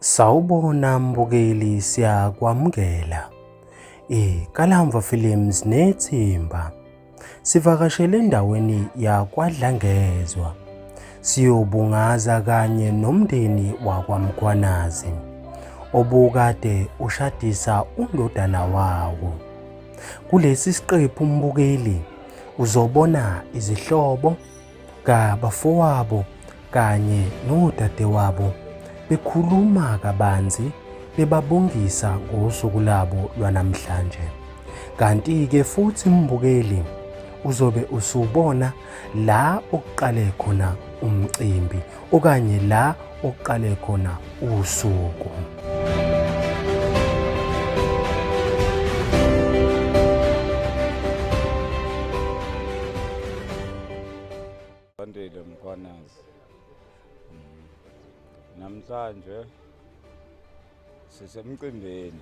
Sawubona mbukeli siyakwamukela. IKalamva Films nethimba sivakashele endaweni yakwaDlangezwa siyobungaza kanye nomndeni wakwaMgwanazi obukade ushadisa undodana wawo. Kulesi siqephu umbukeli uzobona izihlobo kabafowabo kanye nodadewabo bekhuluma kabanzi bebabongisa ngosuku labo lwanamhlanje. Kanti-ke futhi umbukeli uzobe usubona la okuqale khona umcimbi okanye la okuqale khona usuku. Andile Mkhwanazi. Mm. Namhlanje sisemcimbini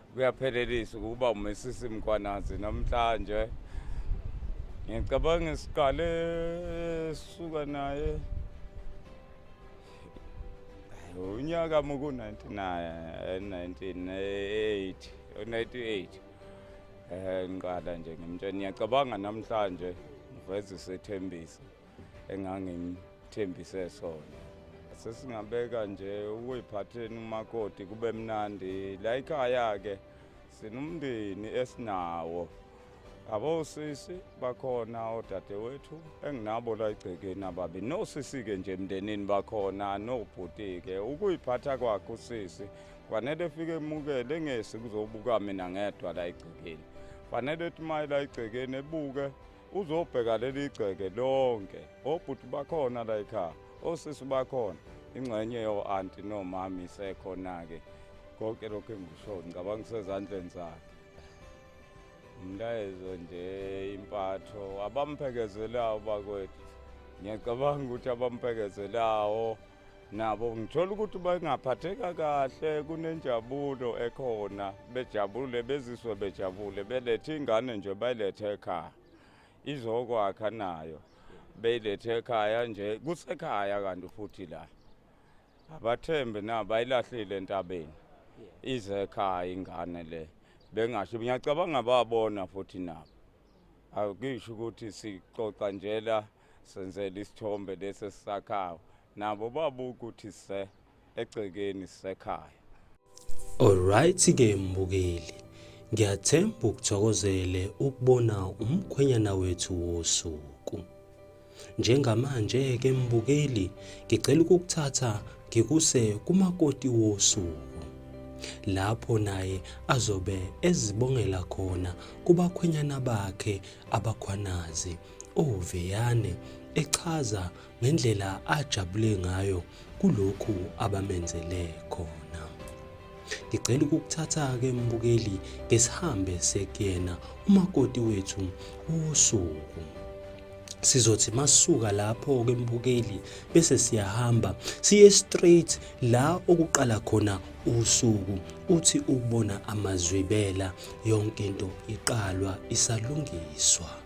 kuyaphelelisa ukuba umesisi mkwanazi namhlanje ngicabanga siqale suka naye unyaka muku-1998 u-98 um ngiqala nje ngimtshela ngiyacabanga namhlanje ngiveze isethembiso engangimthembise sona sesingabeka nje ukuyiphatheni umakoti kube mnandi la ikhaya-ke sinomndeni esinawo abosisi bakhona odadewethu enginabo la egcekeni ababi nosisi-ke nje emndenini bakhona nobhuti-ke ukuyiphatha kwakhe usisi kufanele efike emukele engesi kuzobuka mina ngedwa la egcekeni kufanele ethi maye la egcekeni ebuke Uzobheka leli gceke lonke, obhuti bakhona la ekhaya, osisi bakhona, ingxenye yo-anti nomama isekhona-ke. Konke lokhu engikushoyo ngicabanga kusezandleni zakhe. Umlayezo nje impatho abamphekeze lawo bakwethu. Ngiyacabanga ukuthi abamphekeze lawo. nabo ngithola ukuthi bengaphatheka kahle kunenjabulo ekhona bejabule beziswe bejabule belethe ingane nje bayilethe ekhaya izokwakha nayo beyilethe ekhaya nje kusekhaya kanti futhi la abathembe na bayilahlile entabeni ize ekhaya ingane le bengasho ngiyacabanga babona futhi nabo akusho ukuthi sixoxa nje la Senzele isithombe lesi esisakhayo nabo babe ukuthi se egcekeni sisekhaya. Alright ke mbukeli. Ngiyathemba ukuthokozele ukubona umkhwenyana wethu wosuku. Njengamanje ke mbukeli ngicela ukukuthatha ngikuse kumakoti wosuku lapho naye azobe ezibongela khona kubakhwenyana bakhe abakhwanazi uVeyane echaza ngendlela ajabule ngayo kulokhu abamenzele khona. Ngicela ukukuthatha-ke mbukeli ngesihambe sekuyena umakoti wethu usuku. Sizothi masuka lapho ke mbukeli bese siyahamba siye straight la okuqala khona usuku uthi ubona amazwibela yonke into iqalwa isalungiswa.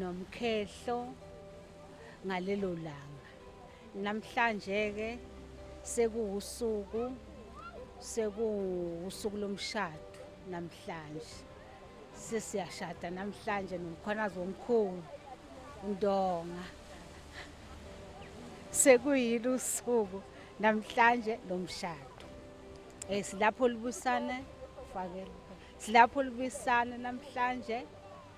nomkhehlo ngalelo langa. Namhlanje-ke sekuwusuku sekuwusuku lomshado namhlanje sesiyashada namhlanje nomkhwanazi womkhulu undonga sekuyilo usuku namhlanje lomshado eh silapho libusane fakela silapho libusane namhlanje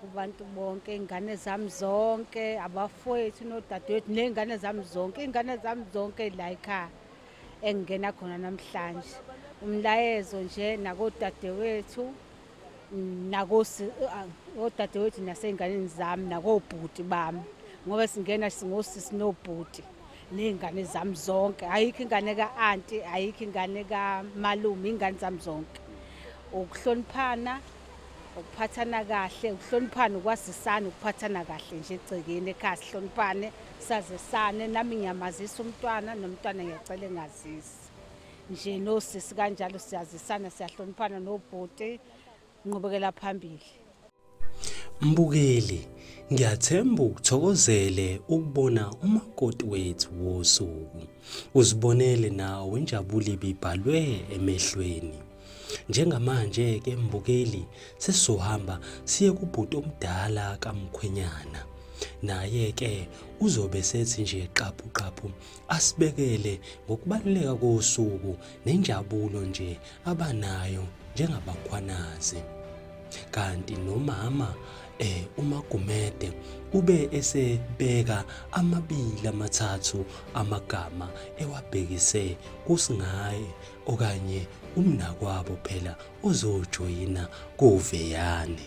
kubantu bonke ingane zami zonke abafowethu nodadewethu ney'ngane zami zonke iy'ngane zami zonke la ekhaya engingena khona namhlanje umlayezo nje nakodadewethu nakodadewethu ah, nasey'nganeni zami nakobhuti bami ngoba singena singosisi nobhuti ney'ngane zami zonke ayikho ingane ka-anti ayikho ingane kamalume iy'ngane zami zonke ukuhloniphana ukuphathana kahle ukuhloniphana ukwazisana ukuphathana kahle nje egcekeni ekhaya sihloniphane sazisane nami ngiyamazisa umntwana nomntwana ngiyacela engazisi nje nosisi kanjalo siyazisana siyahloniphana nobhuti nqubekela phambili mbukeli ngiyathemba ukuthokozele ukubona umakoti wethu wosuku uzibonele nawe injabulo ibibhalwe emehlweni Njengamanje ke mbukeli sesizohamba siye kubhuti omdala kamkhwenyana. Naye ke uzobe sethi nje qaphu qaphu asibekele ngokubaluleka kosuku nenjabulo nje abanayo njengabakhwanazi. Kanti nomama eh uMagumede ube esebeka amabili amathathu amagama ewabhekise kusingaye okanye umnakwabo phela ozojoyina kuveyane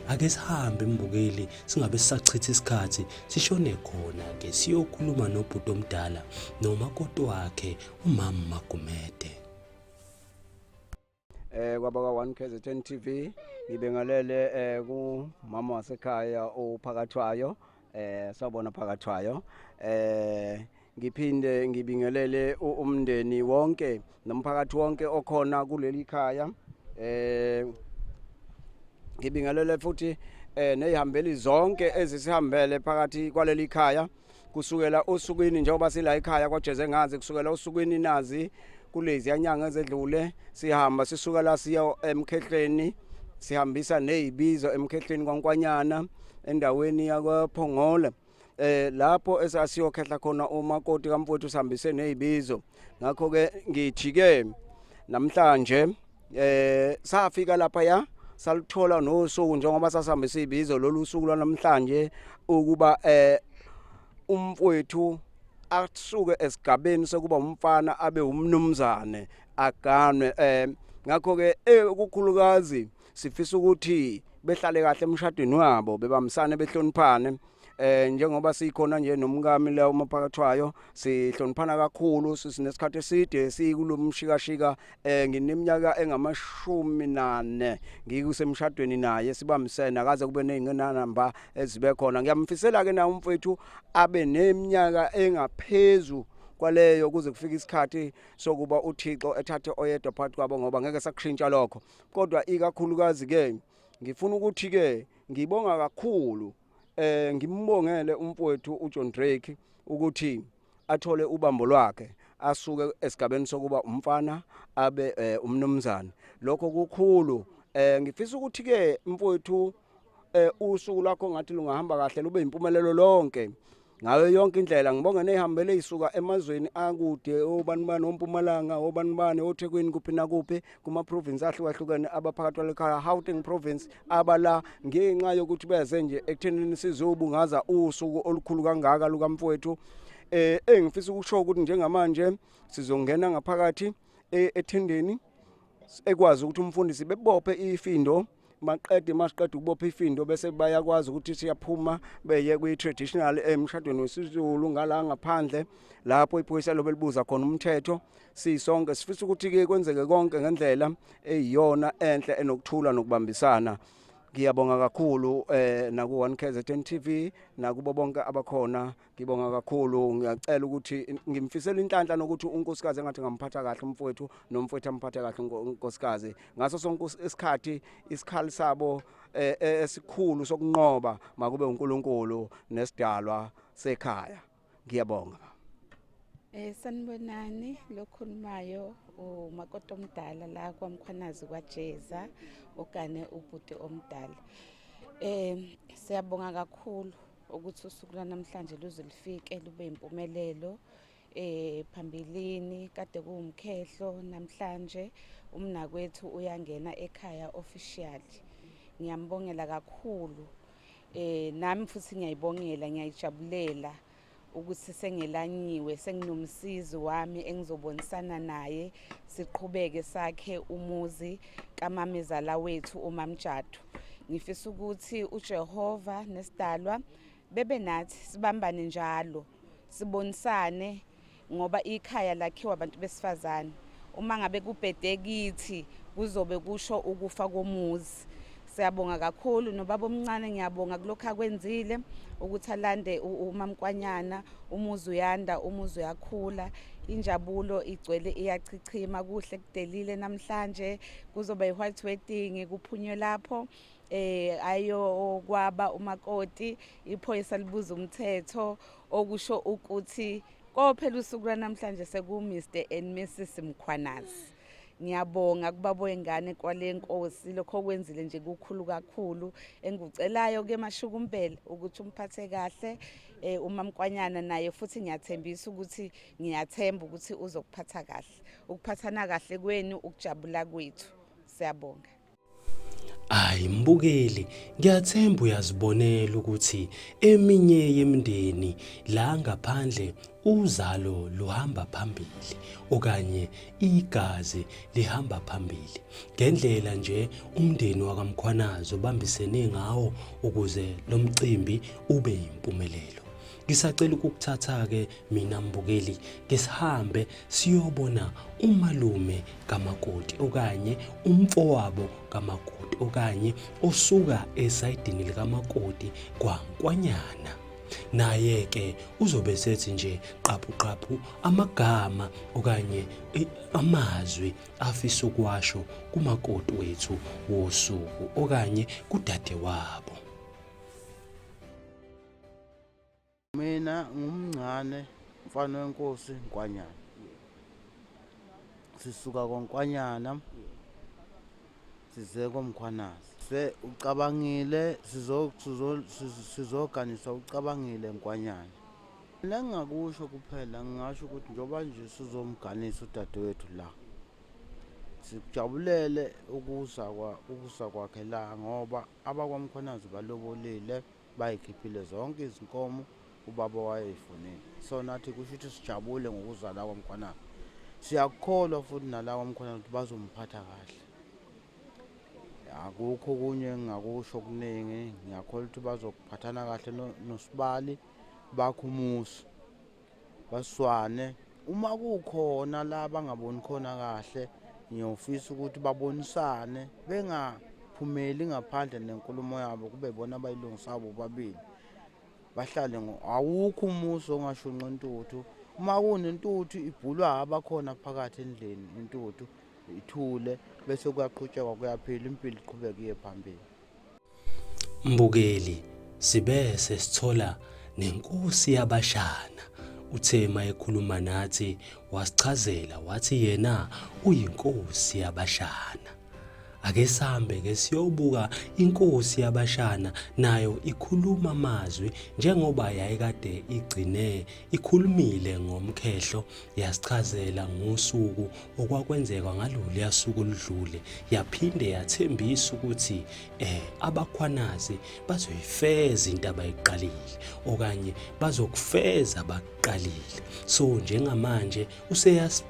ake sihambe mbukeli singabe sisachitha isikhathi sishone khona ke siyokhuluma nobhuti omdala nomakoti wakhe umama Magumede eh kwaba ka 1 KZN TV ngibengalele eh kumama wasekhaya ophakathwayo Eh sawbona phakathwayo eh ngiphinde ngibingelele umndeni wonke nomphakathi wonke okhona kuleli khaya eh ngibingelele futhi eh nezihambeli zonke ezisihambele phakathi kwaleli khaya kusukela osukwini njengoba sila ekhaya kwaJeze ngazi kusukela osukwini nazi kuleziya nyanga ezedlule sihamba sisuka la siya emkhehleni sihambisa nezibizo emkhehleni kwankwanyana endaweni yakwaphongole eh lapho esasiyokhehla khona umakoti kamfowethu sihambise nezibizo ngakho ke ngithi ke namhlanje eh safika lapha ya salithola nosuku njengoba sasihambisa izibizo lolu suku lwanamhlanje ukuba eh umfowethu asuke esigabeni sokuba umfana abe umnumzane aganwe eh ngakho ke eh, ukukhulukazi sifisa ukuthi behlale kahle emshadweni wabo bebamsane behloniphane eh njengoba sikhona nje nomkami la umaphakathwayo sihloniphana kakhulu sinesikhathi eside sikulomshikashika eh ngineminyaka engamashumi nane ngikusemshadweni naye sibambisene akaze kube nezinqinamba ezibe khona ngiyamfisela ke na umfethu abe neminyaka engaphezulu kwaleyo kuze kufike isikhathi sokuba uThixo ethathe oyedwa phakathi kwabo ngoba ngeke sakushintsha lokho kodwa ikakhulukazi ke ngifuna ukuthi ke ngibonga kakhulu eh ngimbongele umfowethu uJohn Drake ukuthi athole ubambo lwakhe asuke esigabeni sokuba umfana abe eh, umnumzane lokho kukhulu eh ngifisa ukuthi ke mfowethu eh usuku lwakho ngathi lungahamba kahle lube impumelelo lonke ngayo yonke indlela ngibonge nehambele isuka emazweni akude obanibani ompumalanga obanibani oThekwini kuphi nakuphi kuma-province ahlukahlukene abaphakathi kwale khaya Gauteng province abala ngenxa yokuthi beze nje ekuthenini sizobungaza usuku olukhulu kangaka lukamfowethu eh engifisa ukusho ukuthi njengamanje sizongena ngaphakathi e-, ethendeni ekwazi ukuthi umfundisi bebophe ifindo maqede masiqeda ukubopha ifindo bese bayakwazi ukuthi siyaphuma beye kwi-traditional emshadweni wesizulu ngala ngaphandle lapho iphoyisa lobe libuza khona umthetho sisonke sifisa ukuthi-ke kwenzeke konke ngendlela eyiyona enhle enokuthula nokubambisana ngiyabonga kakhulu eh naku-one kzn tv nakubo bonke abakhona Ngibonga kakhulu ngiyacela ukuthi ngimfisela inhlanhla nokuthi unkosikazi engathi ngamphatha kahle umfowethu nomfowethu amphathe kahle unkosikazi ngaso sonke isikhathi isikhali sabo eh, eh, esikhulu sokunqoba makube uNkulunkulu nesidalwa sekhaya ngiyabonga Eh sanibonani lokhulumayo umakoti omdala la kwaMkhwanazi kwaJeza okane ubhuti omdala. Eh siyabonga kakhulu ukuthi usuku lwanamhlanje luze lufike lube impumelelo eh phambilini kade kuwumkhehlo namhlanje umnakwethu uyangena ekhaya officially ngiyambongela kakhulu eh nami futhi ngiyayibongela ngiyayijabulela ukuthi sengelanyiwe senginomsizi wami engizobonisana naye siqhubeke sakhe umuzi kamamezala wethu umamjadu Ngifisa ukuthi uJehova nesidalwa bebe nathi sibambane njalo sibonisane ngoba ikhaya lakhiwa abantu besifazane uma ngabe kubhede kithi kuzobe kusho ukufa komuzi siyabonga kakhulu nobaba omncane ngiyabonga kulokho akwenzile ukuthi alande umamkwanyana umuzi uyanda umuzi uyakhula injabulo igcwele iyachichima kuhle kudelile namhlanje kuzoba i-white wedding kuphunywe lapho eh ayokwaba umakoti iphoyisa libuza umthetho okusho ukuthi kophela usuku lwanamhlanje seku Mr and Mrs Mkhwanazi ngiyabonga kubaboyengane kwalenkosi lokho kwenzile nje kukhulu kakhulu engikucelayo ke mashukumbele ukuthi umphathe kahle eh, umamkwanyana naye futhi ngiyathembisa ukuthi ngiyathemba ukuthi uzokuphatha kahle ukuphathana kahle kwenu ukujabula kwethu siyabonga Hayi mbukeli ngiyathemba uyazibonela ukuthi eminye yemindeni la ngaphandle uzalo luhamba phambili okanye igazi lihamba phambili ngendlela nje umndeni wakamkhwanazi obambisene ngawo ukuze lo mcimbi ube yimpumelelo Ngisacela ukukuthatha-ke mina mbukeli ke sihambe siyobona umalume kamakoti okanye umfowabo kamakoti okanye osuka esayidini likamakoti kwankwanyana naye-ke uzobe sethi nje qaphuqaphu amagama okanye amazwi afisa ukuwasho kumakoti wethu wosuku okanye kudade wabo Mina ngumncane mfana wenkosi Nkwanyana. Sisuka koNkwanyana size komkhwanazi. Se ucabangile sizoganisa ucabangile Nkwanyana. Mina ngingakusho kuphela ngingasho ukuthi njengoba nje sizomganisa udadewethu la. Sikujabulele ukusa kwa ukusa kwakhe la ngoba abakwamkhwanazi balobolile. Bayikhiphile zonke izinkomo ubaba wayeyifunile. So nathi kusho ukuthi sijabule ngokuzala komkhwanana. Siyakukholwa futhi nala komkhwanana ukuthi bazomphatha kahle. Akukho okunye engingakusho okuningi, ngiyakholwa ukuthi bazokuphathana kahle nosibali bakho umusa. baswane uma kukhona la bangaboni khona kahle ngiyofisa ukuthi babonisane bengaphumeli ngaphandle nenkulumo yabo kube bona abayilungisa bobabili bahlale awukho umuso ongashunqa intuthu uma kunentuthu ibhulwa abakhona phakathi endlini intuthu ithule bese kuyaqhutshekwa kuyaphila impilo iqhubeke iye phambili Mbukeli, Sibese sithola nenkosi yabashana uthe mayekhuluma nathi wasichazela wathi yena uyinkosi yabashana. Ake sambe ke siyobuka inkosi yabashana nayo ikhuluma amazwi njengoba yayikade igcine Ikhulumile ngomkhehlo yasichazela ngosuku okwakwenzeka ngaloluya suku oludlule yaphinde yathembisa ukuthi eh abakhwanazi bazoyifeza into abayiqalile okanye bazokufeza abakuqalile so njengamanje useyas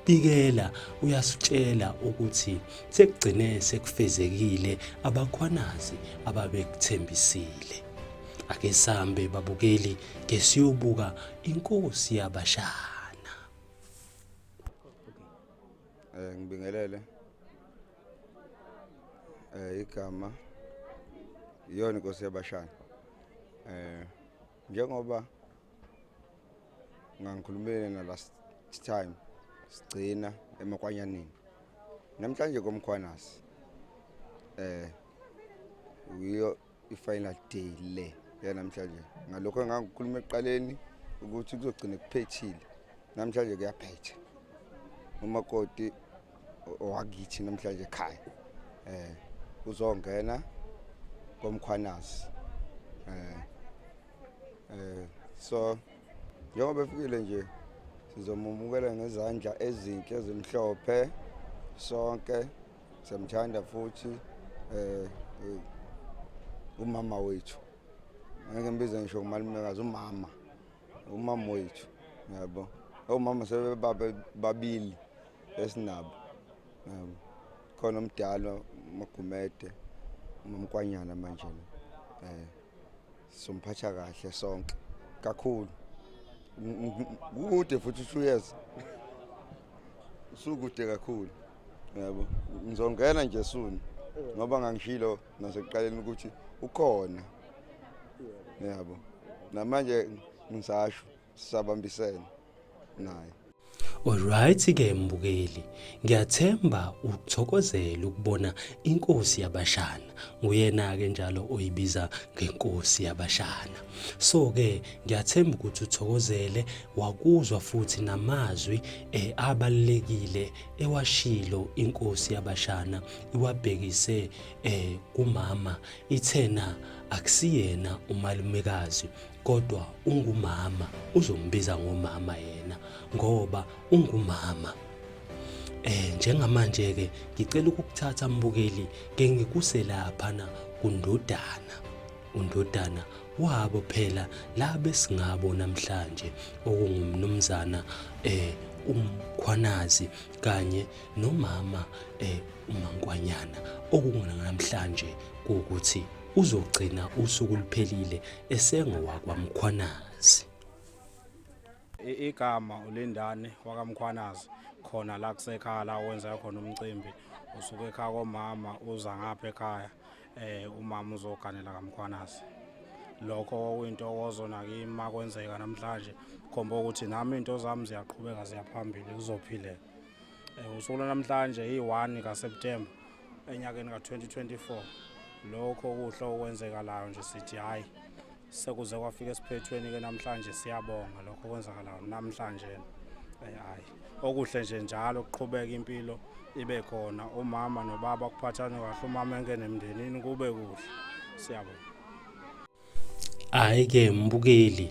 bikela uyasitshela ukuthi sekugcine sekufezekile abakhwanazi ababekuthembisile Ake sambe babukeli ke siyobuka inkosi yabashana. Eh ngibingelele. Eh igama iyona inkosi yabashana. Eh njengoba ngangikhulumile na last time sigcina emakwanyanini namhlanje komkhwanasi eh uyo i-final day le yanamhlanje ngalokho engangikhuluma ekuqaleni ukuthi kuzogcina kuphethile namhlanje kuyaphetha umakoti owakithi namhlanje ekhaya eh uzongena komkhwanazi eh eh so njengoba efikile nje sizomumukela ngezandla ezinhle ezimhlophe sonke Siyamthanda futhi eh, eh umama wethu. Ngeke ngibize ngisho umalumekazi umama. Umama wethu. Yabo. Omama sebebaba babili esinabo. Yabo. Khona umdala uMagumede, uMkwanyana manje. Eh. Somphatha kahle sonke kakhulu. Kukude futhi 2 years. Usukude kakhulu. Yebo. Ngizongena nje soon ngoba ngangishilo nasekuqaleni ukuthi ukhona. Yebo. Namanje ngisasho sisabambisene. naye Alright ke mbukeli, ngiyathemba uthokozela ukubona inkosi yabashana. Nguyena ke njalo oyibiza ngenkosi yabashana. So ke ngiyathemba ukuthi uthokozele wakuzwa futhi namazwi eh, abalekile ewashilo inkosi yabashana iwabhekise eh, kumama ithena akusiyena umalumekazi Kodwa ungumama uzombiza ngomama yena ngoba ungumama. Eh njengamanje ke ngicela ukukuthatha mbukeli ke ngikuse lapha na kundodana. Undodana wabo phela la besingabo namhlanje okungumnumzana eh umkhwanazi kanye nomama eh umankwanyana okunganamhlanje ukuthi uzogcina usuku luphelile esengowakwaMkhwanazi. Igama uLindani wakaMkhwanazi khona la kusekhaya la wenza khona umcimbi usuke ekhaya komama uza ngapha ekhaya eh umama uzoganela kaMkhwanazi lokho okuyinto okozona kimi makwenzeka namhlanje khomba ukuthi nami into zami ziyaqhubeka ziyaphambili kuzophileka Eh, usuku lwanamhlanje iyi-1 kaSeptemba enyakeni ka-2024 lokho kuhle okwenzekalayo nje sithi hhayi sekuze kwafika esiphethweni-ke namhlanje siyabonga lokho okwenzakalayo namhlanje eh, hhayi okuhle nje njalo kuqhubeka impilo ibe khona umama nobaba kuphathane kahle umama engenemndenini kube kuhle siyabonga Hhayi-ke mbukeli,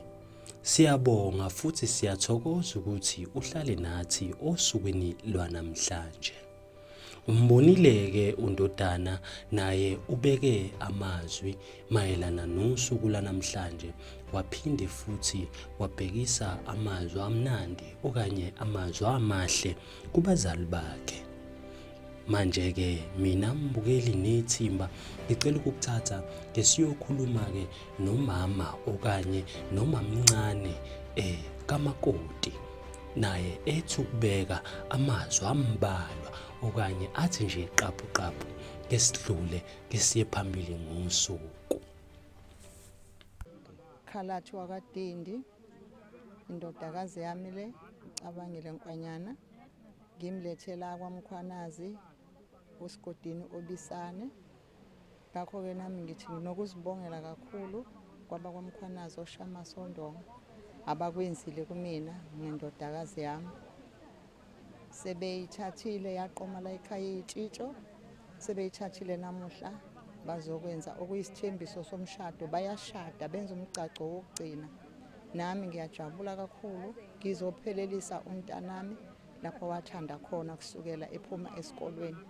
siyabonga futhi siyathokoza ukuthi uhlale nathi osukwini lwanamhlanje. Umbonile-ke uNdodana naye ubeke amazwi mayelana nosuku lwanamhlanje waphinde futhi wabhekisa amazwi amnandi okanye amazwi amahle kubazali bakhe. Manje-ke mina mbukeli nethimba ngicela ukukuthatha ke siyokhuluma-ke nomama okanye nomamncane um kamakoti naye ethi ukubeka amazwi ambalwa okanye athi nje qaphuqaphu ke sidlule ke siye phambili ngosuku khalathi wakadindi indodakazi yami le icabangile nkwanyana Ngimlethe la kwaMkhwanazi uSigodini Obisane. Ngakho-ke nami ngithi nginokuzibongela kakhulu kwabakwaMkhwanazi oShama Sondonga abakwenzile kumina ngendodakazi yami. Sebeyithathile yaqoma la ekhaya iyitshitsho sebeyithathile namuhla bazokwenza okuyisithembiso somshado bayashada benza umgcagco wokugcina nami ngiyajabula kakhulu ngizophelelisa umntanami lapho wathanda khona kusukela ephuma esikolweni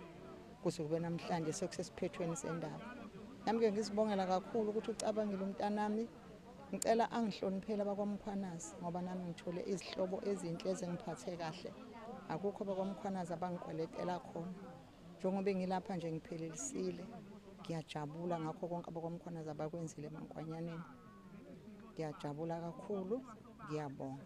kuze kube namhlanje sekusesiphethweni sendaba nami-ke ngizibongela kakhulu ukuthi ucabangile umntanami ngicela angihloniphele abakwamkhwanazi ngoba nami ngithole izihlobo ezinhle ezingiphathe kahle akukho abakwamkhwanazi abangikweletela khona Njengoba engilapha nje ngiphelelisile ngiyajabula ngakho konke abakwamkhwanazi abakwenzile eMankwanyaneni ngiyajabula kakhulu ngiyabonga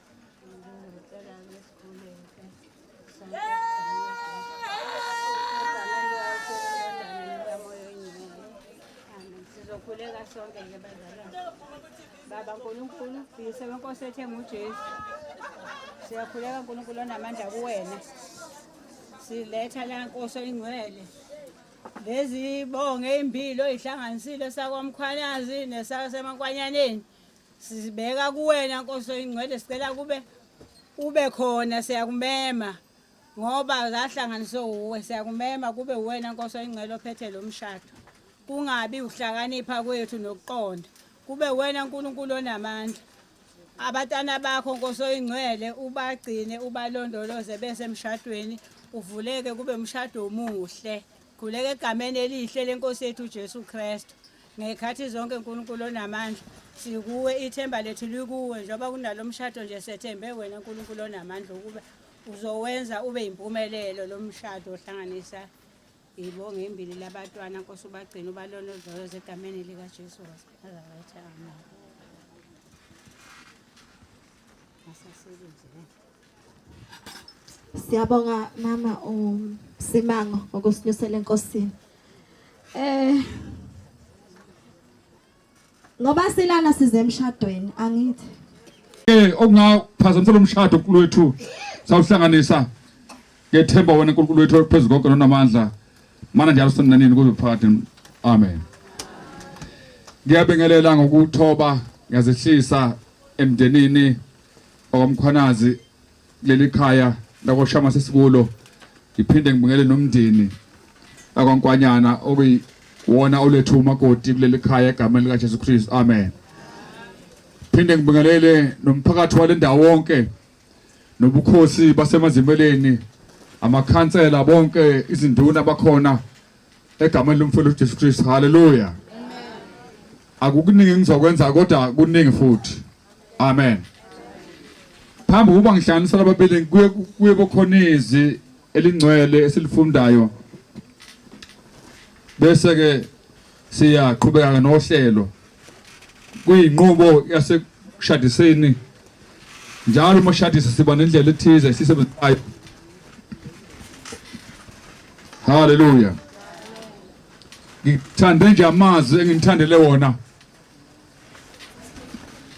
sizokhuleka sonke ke bazalwane baba nkulunkulu uyise wenkosi ethe ngujesu siyakhuleka nkulunkulu onamandla kuwena siletha la nkosi oyingcwele lezi bonge impilo oyihlanganisile sakwamkhwanazi nesasemankwanyane Sizibeka kuwena Nkosi oyingcwele sicela kube ube khona siyakumema ngoba zahlanganiswe uwe siyakumema kube uwena Nkosi oyingcwele ophethe lo mshado. Kungabi ukuhlakanipha kwethu nokuqonda. Kube uwena uNkulunkulu onamandla. Abatana bakho Nkosi oyingcwele ubagcine ubalondoloze bese emshadweni uvuleke kube umshado omuhle. Khuleka egameni elihle lenkosi yethu uJesu Kristu. Ngekhathi zonke uNkulunkulu onamandla, sikuwe ithemba lethu likuwe njengoba kunalo mshado nje sethembe wena uNkulunkulu onamandla ukube uzowenza ube yimpumelelo lo mshado ohlanganisa ibonge imbili labatwana nkosi ubagcina ubalondoloze egameni likaJesu waseNazaretha amen. Asasebenze. Siyabonga mama uSimango um, ngokusinyusela enkosini. Eh Ngoba silana size emshadweni angithi. Eh okungaphazamisa lomshado uNkulunkulu wethu sawuhlanganisa ngethemba wena uNkulunkulu wethu phezulu konke nonamandla. Mana njalo sonanini kuze phakathi. Amen. Ngiyabingelela ngokuthoba ngiyazehlisa emndenini okamkhwanazi kuleli khaya lakoshama sesikulo ngiphinde ngibingele nomndeni akwankwanyana okuyiwona olethu umakoti kuleli khaya egameni likajesu kristu amen phinde ngibingelele nomphakathi wale ndawo wonke nobukhosi basemazimeleni amakhansela bonke izinduna bakhona egameni lomfowethu uJesu Kristu haleluya akukuningi ngizokwenza kodwa kuningi futhi amen phambi kuba ngihlanganisa lababili kuye kuye bokhona izwi elingcwele esilifundayo bese ke siyaqhubeka nohlelo kuyinqubo yasekushadiseni njalo uma shadisa siba nendlela ethize esisebenzayo Hallelujah. Ngithande nje amazwi engimthandele wona.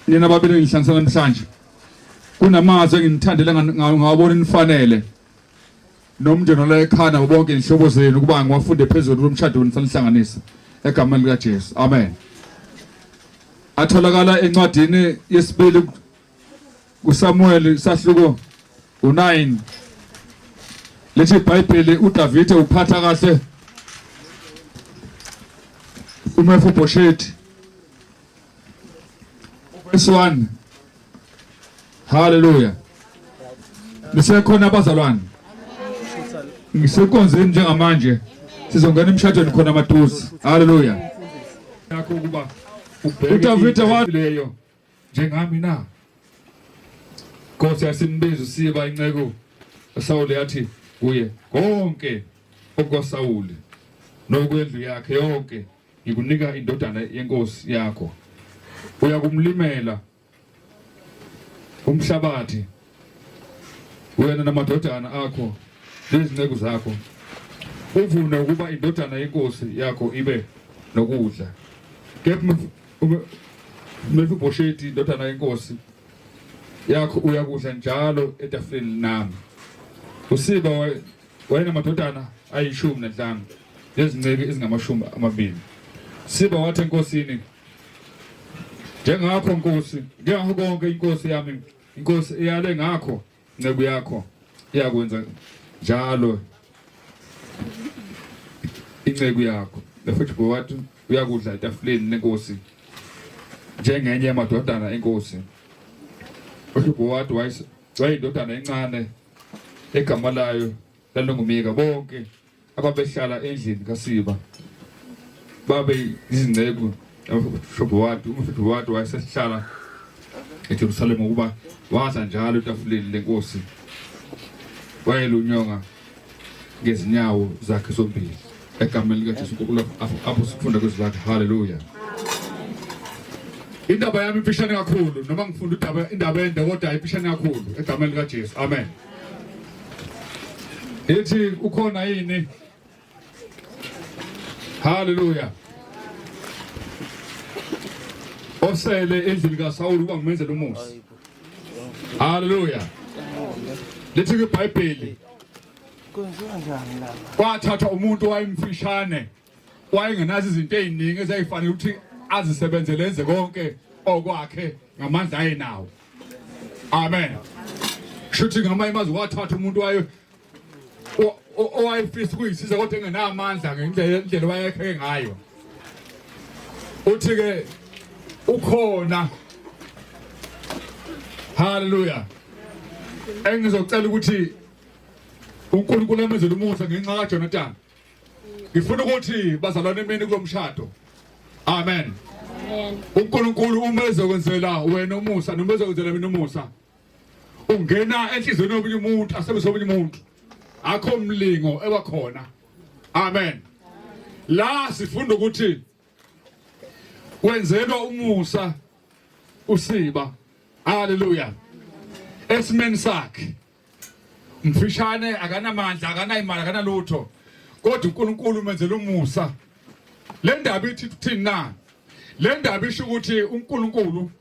Nina babili ngihlanganisa namhlanje. Kunamazwi engimthandele ngawo ngawabona inifanele. Nomndeni la ekhana bonke inhlobo zenu ukuba ngiwafunde phezulu lomshado wenisanihlanganisa egameni lika Jesu. Amen. Atholakala encwadini yesibili kuSamuel sahluko u9 lithi iBhayibheli uDavide uphatha kahle uMefiboshethi verse 1 haleluya nisekhona abazalwane ngisekonzeni njengamanje sizongena emshadweni khona maduze haleluya yakho ukuba uDavide waleyo njengami na? Nkosi yasimbiza usiba inceku uSawule yathi kuye konke okukaSawule nokwendlu yakhe yonke ngikunika indodana yenkosi yakho uyakumlimela umhlabathi wena namadodana akho nezinceku zakho uvume ukuba indodana yenkosi yakho ibe nokudla kepha Mefiboshethi indodana yenkosi yakho uyakudla njalo etafuleni nami usiba wayena madodana ayishumi nanhlanu nezinceku ezingamashumi amabili siba wathi enkosini njengakho nkosi njengakho konke inkosi yami Inkosi iyale ngakho nceku yakho iyakwenza njalo inceku yakho futhi ngowathi uyakudla etafuleni lenkosi njengenye yamadodana enkosi uHibowadi wayeyindodana encane egama layo lalingumika bonke ababehlala endlini kaSiba babe izinceku umhlobo wakhe umhlobo wakhe wayesehlala eJerusalema ukuba wadla njalo etafuleni lenkosi wayelunyonga ngezinyawo zakhe zombili egameni likaJesu Nkulunkulu apho sifunda kwezwi lakhe haleluya indaba yami ifishane kakhulu noma ngifunda indaba indaba ende kodwa ifishane kakhulu egameni likaJesu amen Ithi ukhona yini? Hallelujah. Osele endlini kaSawulu kwangimenzela umusa. Hallelujah. Lithi iBhayibheli. Kwenziwa njani la? Kwathathwa umuntu wayemfishane. wayengenazo izinto eziningi ezayifanele ukuthi azisebenzele enze konke okwakhe ngamandla ayenawo amen shuthi ngamanye amazwi wathatha umuntu wayo owayefisa ukuyisiza kodwa engenamandla ngendlela wayekheke ngayo uthi-ke ukhona haleluya engizocela ukuthi unkulunkulu amenzele umusa ngenxa kajonatani ngifuna ukuthi bazalwane imini kulomshado amen uNkulunkulu uma ezokwenzela wena umusa noma ezokwenzela mina umusa ungena enhlizweni yomunye umuntu asebenzisa omunye umuntu akho mlingo ebakhona amen la sifunda ukuthi wenzelwa umusa usiba haleluya esimeni sakhe mfishane akanamandla akanayimali akanalutho kodwa uNkulunkulu umenzela umusa le ndaba ithi kuthini na le ndaba isho ukuthi uNkulunkulu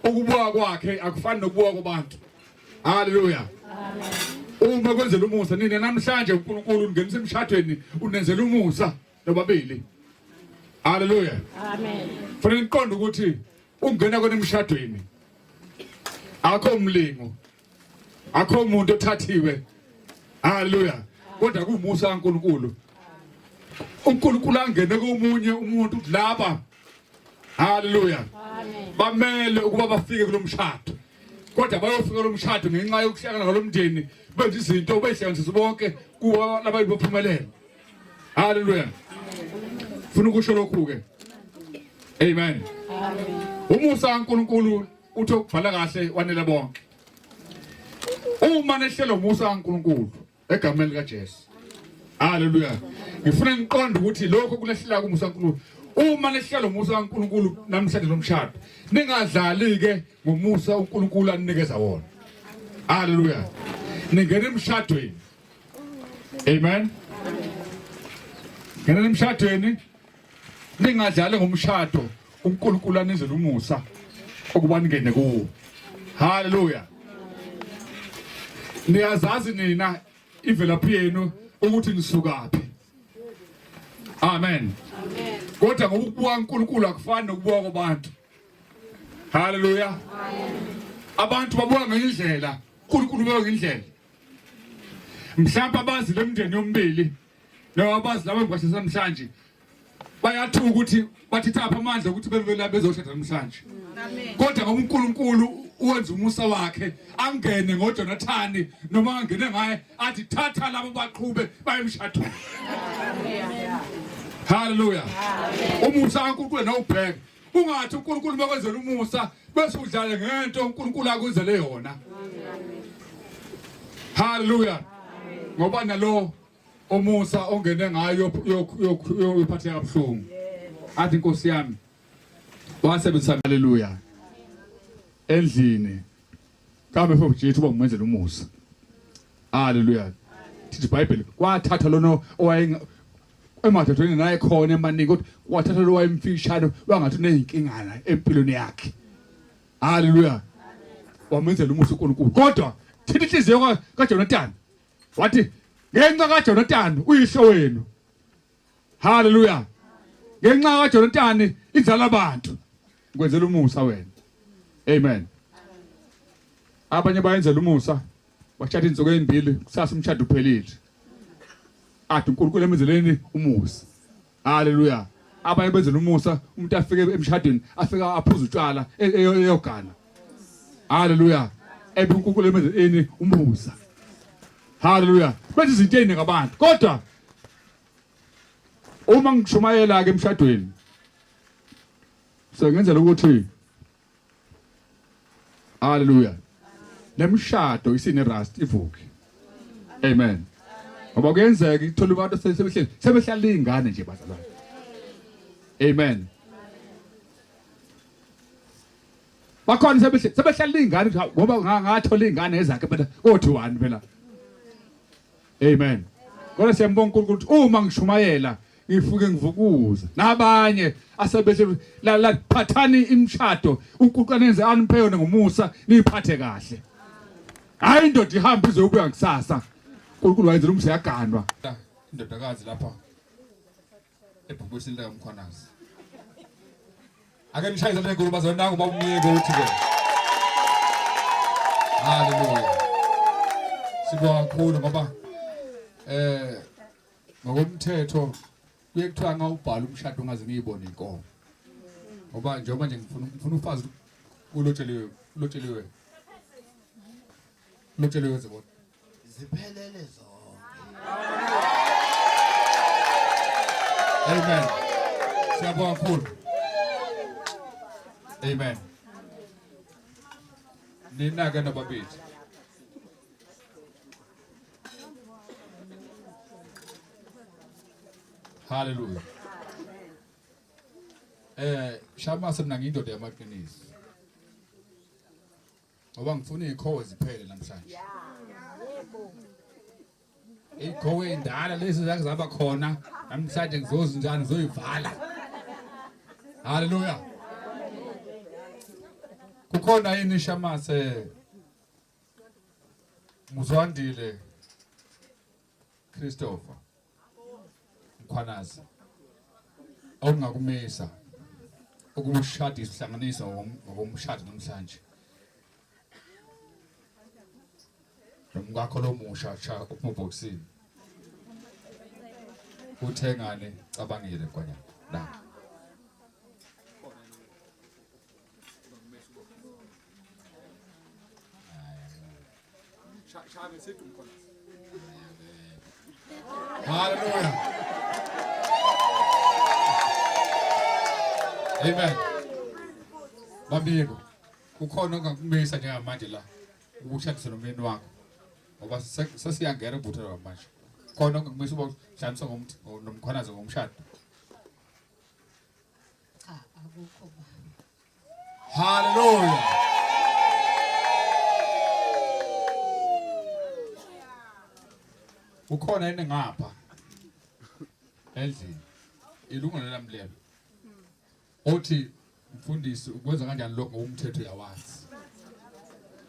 ukubuka kwakhe akufani nokubuka kwabantu haleluya uma kwenzela umusa nina namhlanje uNkulunkulu ungenisa emshadweni unenzela umusa nobabili haleluya amen fanele niqonde ukuthi Ukungena kwenu emshadweni akho umlingo akho umuntu othathiwe haleluya kodwa kumusa kaNkulunkulu uNkulunkulu angene komunye umuntu kulaba haleluya bamele ukuba bafike kulomshado kodwa bayofika kulomshado ngenxa yokuhlangana kwalomndeni benza izinto beyihlanganisa bonke kuba labantu baphumelela Haleluya. Funa ukusho lokhu ke. Amen. Amen. Umusa kaNkuluNkulu uthi ukubhala kahle wanele bonke. Uma nehlelo umusa kaNkuluNkulu egameni likaJesu. Haleluya. Ngifuna ngiqonde ukuthi lokho kulehlelaka umusa kaNkuluNkulu uma lehlala umusa kaNkuluNkulu namhlanje lomshado ningadlali ke ngomusa uNkuluNkulu anikeza wona haleluya ningena emshadweni Amen. Ngena emshadweni ningadlali ngomshado uNkulunkulu anizela umusa ukuba ningene kuwo. Hallelujah. Niyazazi nina imvelaphi yenu ukuthi nisukaphi. Amen. Amen. Kodwa ngokubuka uNkulunkulu akufani nokubuka kwabantu. Hallelujah. Amen. Abantu babuka ngendlela, uNkulunkulu ubuka ngendlela. mhlawumbe abazi lemndeni yombili nawabazi laba ngibashisa namhlanje bayathuka ukuthi bathetha apha amandla ukuthi bebela bezoshada namhlanje kodwa ngoba uNkulunkulu uwenza umusa wakhe angene ngoJonathani noma angene ngaye athi thatha labo baqhube bayemshadweni haleluya umusa kaNkulunkulu nawubheka ungathi uNkulunkulu makwenzela umusa bese udlale ngento uNkulunkulu akuzele yona haleluya ngoba nalo umusa ongene ngayo yophatheka kabuhlungu athi inkosi yami wasebenzisa haleluya endlini kambe mfo Jesu uba ngumenzela umusa haleluya thithi bible kwathatha lona owaye emadodeni naye khona emaningi kodwa wathatha lo wayemfishane wangathi unezinkingana empilweni yakhe haleluya wamenzela umusa uNkulunkulu kodwa thina inhliziyo kaJonathan wathi ngenxa kaJonathan uyihlo wenu haleluya ngenxa kaJonathan inzala abantu ngikwenzela umusa wena amen abanye bayenzela umusa Washada insuku ezimbili kusasa umshado uphelile. Athi uNkulunkulu emenzeleni umusa. Haleluya. Abanye benzela umusa umuntu afike emshadweni afike aphuza utshwala e, e, eyogana. Haleluya. Ebe uNkulunkulu emenzeleni umusa. Haleluya. Benza izinto eziningi abantu kodwa uma ngishumayela ke emshadweni sengenzela ukuthi Hallelujah. Nemshado isine rust ivuke. Amen. Ngoba kuyenzeka ithola abantu sebehleli sebehlala izingane nje bazalwane. Amen. Bakhona sebehleli sebehlala izingane ngoba ngathola izingane ezakhe phela kothi wani phela. Amen. Kodwa siyambonga uNkulunkulu ukuthi uma ngishumayela ngifuke ngivukuza nabanye asebese la la phathani imshado uNkulunkulu anenze aniphe yona ngomusa niphathe kahle hayi indoda ihamba izobuya kusasa uNkulunkulu wayenzela umseyaganwa indodakazi lapha ebhubesini likaMkhwanazi ake nishaye izandla enkulu bazalwane nangu bawumyeke uthi ke haleluya sibonga kakhulu ngoba eh ngokomthetho kuye kuthiwa ngawubhala umshado ungaze ngiyibone inkomo ngoba njengoba nje ngifuna ngifuna ufazi ulotsheliwe ulotsheliwe Mutshele wenze kodwa. Ziphelele zonke. Amen. Siyabonga mkhulu. Amen. Nina ke nababili. Hallelujah. Eh, shama semna ngindoda yamaqiniso. Ngoba ngifuna izikhowe ziphele namhlanje. Izikhowe endala lezi zake zaba khona namhlanje ngizozi njani ngizoyivala. Haleluya. Kukhona yini shamathe Muzwandile Christopher Mkhwanazi okungakumisa ukushada isihlanganisa ngokomshado namhlanje nomkakho lomusha cha uphubhoksini uthengane cabangile kwanya la Haleluya. Amen. Bambiko. Kukhona ongakumisa njengamanje la ukushadisa nomyeni wakho. Ngoba sesiyangena ubutho manje. Khona ongakumisa ukushadisa ngomkhwanazi ngomshado. Cha akukho baba. Hallelujah. Ukhona yini ngapha? Endlini. Ilungelo lami lelo. Othi mfundisi ukwenza kanjani lokho ngokumthetho yawazi.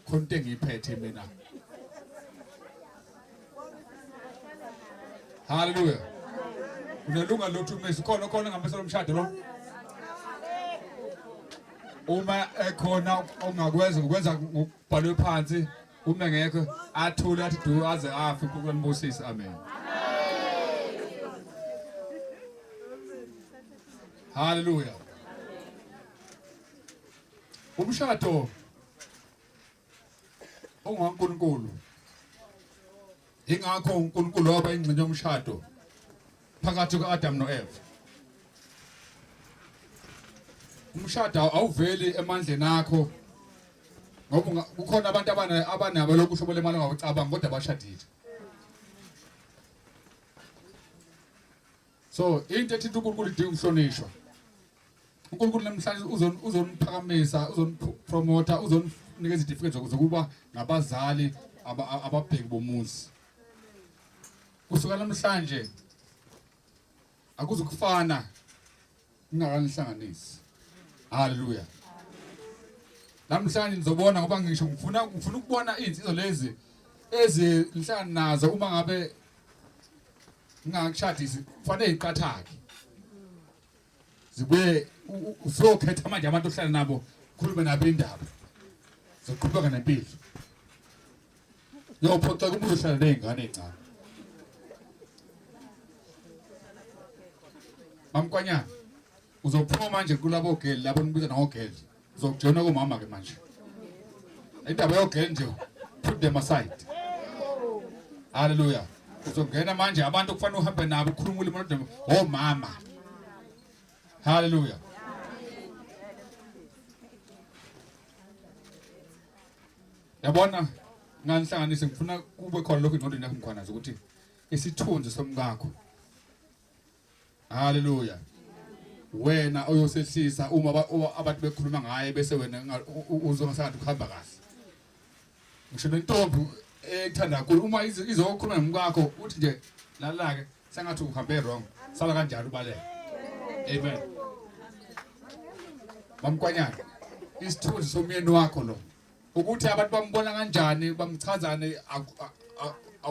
Khona into engiyiphethe mina. Haleluya. Unelunga lothu umesi khona khona ngambesa lomshado lo. Uma ekhona ongakwenza ukwenza ngokubhalwe phansi uma ngekho athule athi du aze afi uNkulunkulu ambusise amen. Haleluya. Umshado unguNkulunkulu ingakho uNkulunkulu waba ingxenye yomshado phakathi kuka-Adam no-Eva umshado awuveli emandleni akho ngoba kukhona abantu abanabo lokhu uhlobo lemali ongawucabanga kodwa bashadile so into ethinta uNkulunkulu idinga ukuhlonishwa uNkulunkulu namhlanje uzoniphakamisa uzonipromotha uzoninika izitifiketi zokuba ngabazali ababheki bomuzi kusuka namhlanje akuzukufana ningakanihlanganisi haleluya namhlanje nizobona ngoba ngisho ngifuna ngifuna ukubona izinsizwa lezi ezinhlanga nazo uma ngabe ngingakshadisi kufanele iqathake zibuye usokhetha manje abantu ohlala nabo khulume nabo indaba zoqhubeka nempilo yophoxa kumuntu ohlala nezingane ezincane mamkwanyana uzophuma manje kulabo geli labo nibiza nangogeli Zokujona komama ke manje. Indaba yogeni nje put them aside. Hallelujah. Uzongena manje abantu kufanele uhambe nabo ukhuluma ulimi lodwa oh mama. Hallelujah. Yabona nganihlanganise ngifuna kube khona lokho ingqondweni yakho ngikhona ukuthi isithunzi somkakho haleluya wena oyosehlisa uma abantu bekhuluma ngaye bese wena uzwe ngasathi ukuhamba kahle ngisho nentombi ethanda kakhulu uma izokhuluma nomkakho uthi nje lalake sengathi uhambe wrong sala kanjalo ubaleka amen mamkwanyana isithunzi somyeni wakho lo ukuthi abantu bambona kanjani bamchazane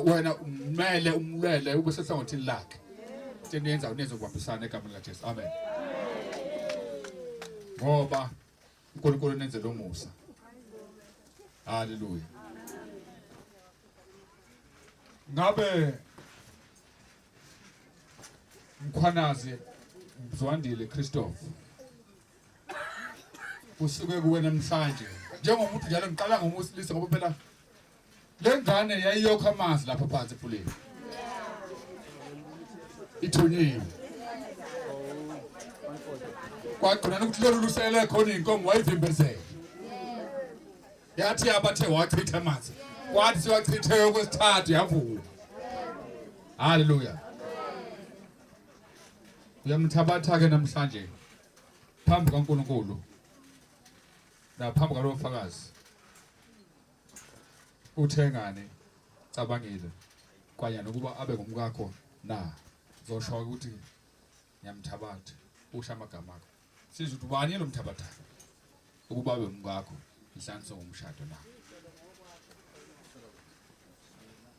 wena umele umlwele ube sehlangothini lakhe seniyenza uneze ukubambisana egameni likaJesu amen ngoba uNkulunkulu nenze lo musa haleluya ngabe mkhwanazi mzwandile Christopher kusuke kuwe namhlanje njengomuntu njalo ngiqala ngomusilisa ngoba phela le ngane yayiyokha amanzi lapha phansi efuleni ithunyiwe kwagcina nokuthi lolu lusele khona iy'nkomo wayivimbezela yathi yabathe wachitha amanzi kwathi siwachithe okwesithathu yavuka haleluya uyamthabatha-ke namhlanje phambi kaNkulunkulu naphambi kwalowo fakazi uthengane cabangile kwanya nokuba abe ngumkakho na zosho ukuthi ngiyamthabatha usha amagama akho siza ukuthi ubani lo mthabatha ukuba abe ngumkakho ihlanso ngomshado na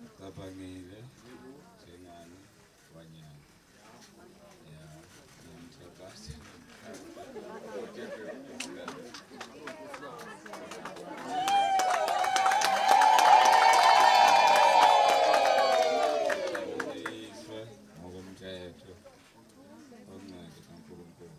Ngicabangile njengani wanyana. Ya, ngiyamthakasa. Ngokomthetho omncane kaNkulunkulu.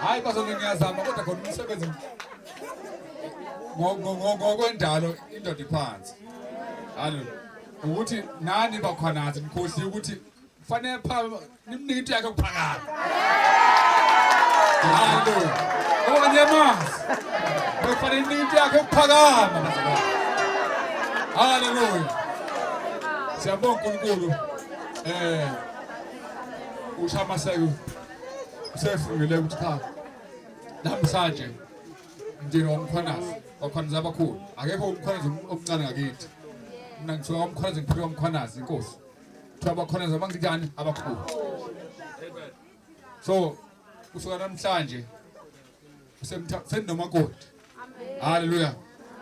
Hayi bazona ngiyazama kodwa khona umsebenzi ngokwendalo indoda iphansi. Hallo. Ukuthi nani bakhwanazi nikhohliwe ukuthi kufanele pha nimnike into yakhe kuphakade hayibo okanye mazi bekufanele nimnike into yakhe kuphakama haleluya siyabonga unkulunkulu eh ushamaseko usefungile ukuthi cha namhlanje mndeni womkhwanazi wakhwanazi abakhulu akekho umkhwanazi omncane ngakithi mina ngithiwa umkhwanazi ngiphiwa umkhwanazi inkosi kuthiwa bakhona nje abangikanjani abakhulu so kusuka namhlanje sendinomakoti haleluya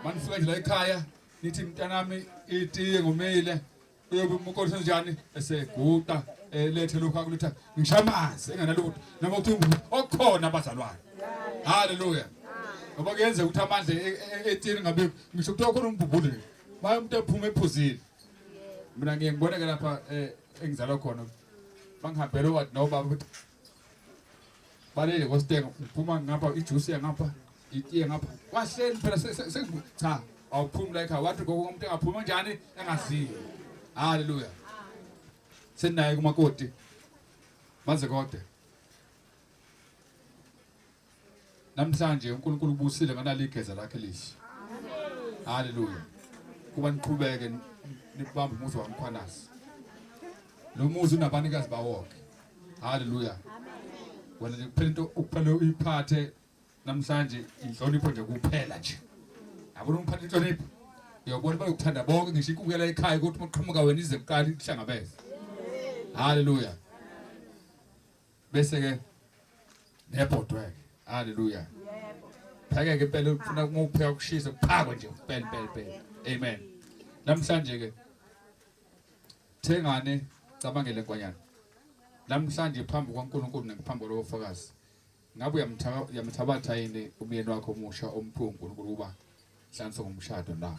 manifika nje la ekhaya nithi mntanami itiye ngumile uyobe umkoti senjani eseguqa elethe eh, lokhu akulutha ngishaya amanzi enganalutho noma kuthi okhona abazalwane haleluya ngoba kuyenzeka ukuthi amandla e, e, e, etini ngabe ngisho kuthiwa khona umbhubhule maye umuntu ephume ephuzile mina ngiye ngibone ke lapha eh, engizalwa khona bangihambele owathi nobaba ukuthi balele kositenga uphuma ngapha ijuice yangapha itiye ngapha kwahleni phela cha awuphumi la ekhaya wathi gogo umuntu engaphuma njani engaziyo haleluya senaye kumakoti maze kodwa Namhlanje uNkulunkulu ubusile ngalali igeza lakhe lihle. Haleluya. Kuba niqhubeke nibamba umuzi waMkhwanazi. Lo muzi unabanikazi bawonke. Haleluya. Wena nje kuphela into ukuphela uyiphathe namhlanje inhlonipho nje kuphela nje. Yabona umphatha inhlonipho. Uyabona bayokuthanda bonke ngisho ikukela ekhaya ukuthi uqhamuka wena ize kuqala ihlangabeze. Haleluya. bese ke nebhodwe haleluya yebo pheke ke impela ufuna ukupheka kushise kuphakwe nje impela impela impela amen namhlanje ke thengane cabangele kwanyana namhlanje phambi kwaNkulunkulu nephambi kwalofakazi ngabe uyamthabatha yini umyeni wakho omusha omkhulu uNkulunkulu uba hlanso ngomshado na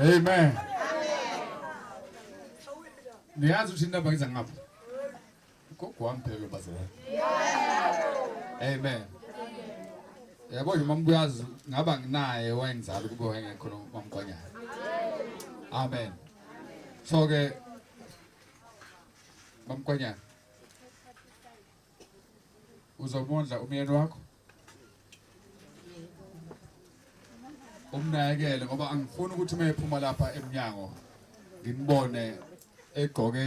Amen. Niyazi ukuthi indaba ngiza ngapha. Gogo wami phela lo bazela. Amen. Yabo nje mambuyazi ngaba nginaye wayengizala kube wayengekho mamgwanyana. Amen. So ke Mamkwanyana. Uzomondla umyeni wakho? Umnakekele ngoba angifuni ukuthi uma ephuma lapha emnyango nginibone egqoke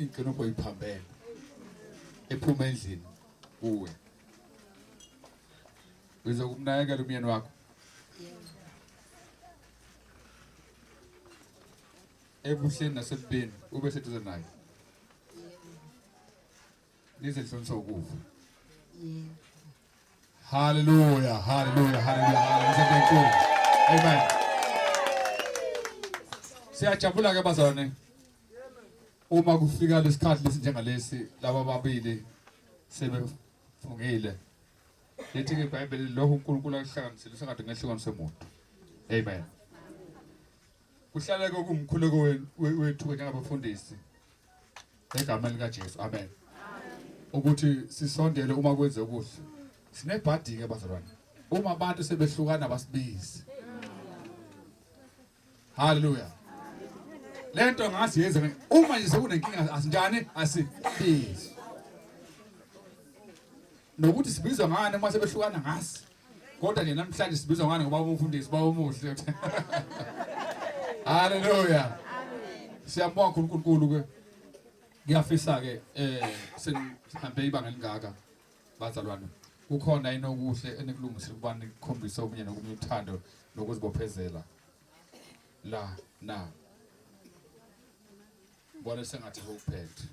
inkinobho iphambene ephuma endlini kuwe. Uzokumnakekela umyeni wakho? ebuhleni nasebubeni ube seduze naye nize nihlonisa ukufa haleluya haleluya haleluya haleluya amen siyajabula ke bazalwane uma kufika lesikhathi lesi njengalesi laba babili sebefungile lithi ke ibhayibheli lokho unkulunkulu akuhlanganisile usengade ngehlukanise muntu amen Kuhlale kokumkhuleko wethu njengabafundisi egameni likaJesu. Amen. Ukuthi sisondele uma kwenze kuhle. Sinebhadi ke bazalwane. Uma abantu sebehlukana basibizi. Hallelujah. Lento ngasi yenze uma nje sekunenkinga asinjani asibizi. Nokuthi sibizwa ngani uma sebehlukana ngasi. Kodwa nje namhlanje sibizwa ngani ngoba umfundisi baba omuhle. Hallelujah. Siyambonga uNkulunkulu ke. Ngiyafisa ke eh sihambe ibanga elingaka bazalwane. Kukhona inokuhle enikulungisile kubani kukhombisa omunye nokunye uthando nokuzibophezela. La na. Bona sengathi ukuphethe.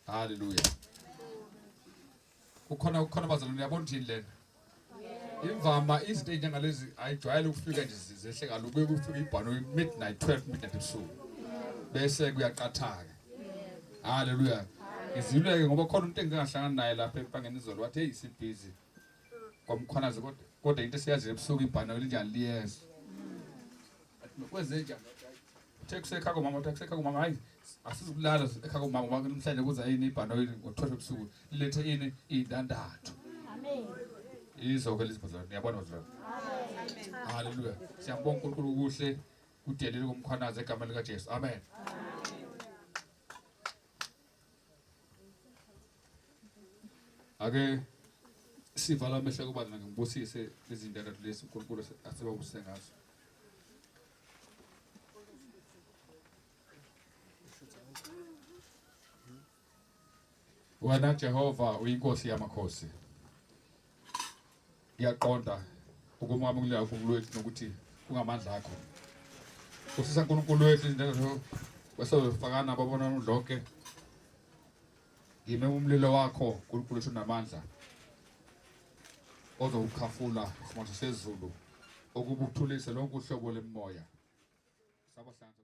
Hallelujah. kukhona kukhona bazalwane uyabona ukuthi lena imvama izinto ezinjengalezi ayijwayele ukufika nje zehle kaloku kuye kufika ibhano midnight 12 midnight ebusuku bese kuyaqathaka haleluya ngiziluleke ngoba khona umuntu engingahlangana naye lapha empangeni izolo wathi hey sibhizi kwamkhwanazi kodwa kodwa into esiyaziyo ebusuku ibhano elinjani liyeza Kwezenja. Thekuse ekhako mama, thekuse ekhako mama. Hayi, asizukulala ekhako mama ngoba namhlanje kuza yini ibhanoyi ngothola ebusuku. Lilethe yini indandatho. Amen. Izo ke lizibuzana. Niyabona manje. Amen. Hallelujah. Siyabonga uNkulunkulu kuhle kudelile kumkhwanaza egameni likaJesu. Amen. Amen. ake sivala amehlo kuba mina ngibusise izindaba lezi uNkulunkulu asebabuse ngazo wena Jehova uyinkosi yamakhosi ngiyaqonda ukumwamulela uNkulunkulu wethu nokuthi kungamandla akho usisa uNkulunkulu wethu njengasho kwesozofakana babona lonke ngime umlilo wakho uNkulunkulu wethu namandla ozowukhafula simanzi sezulu okubuthulise lonke uhlobo lemoya sabahlanza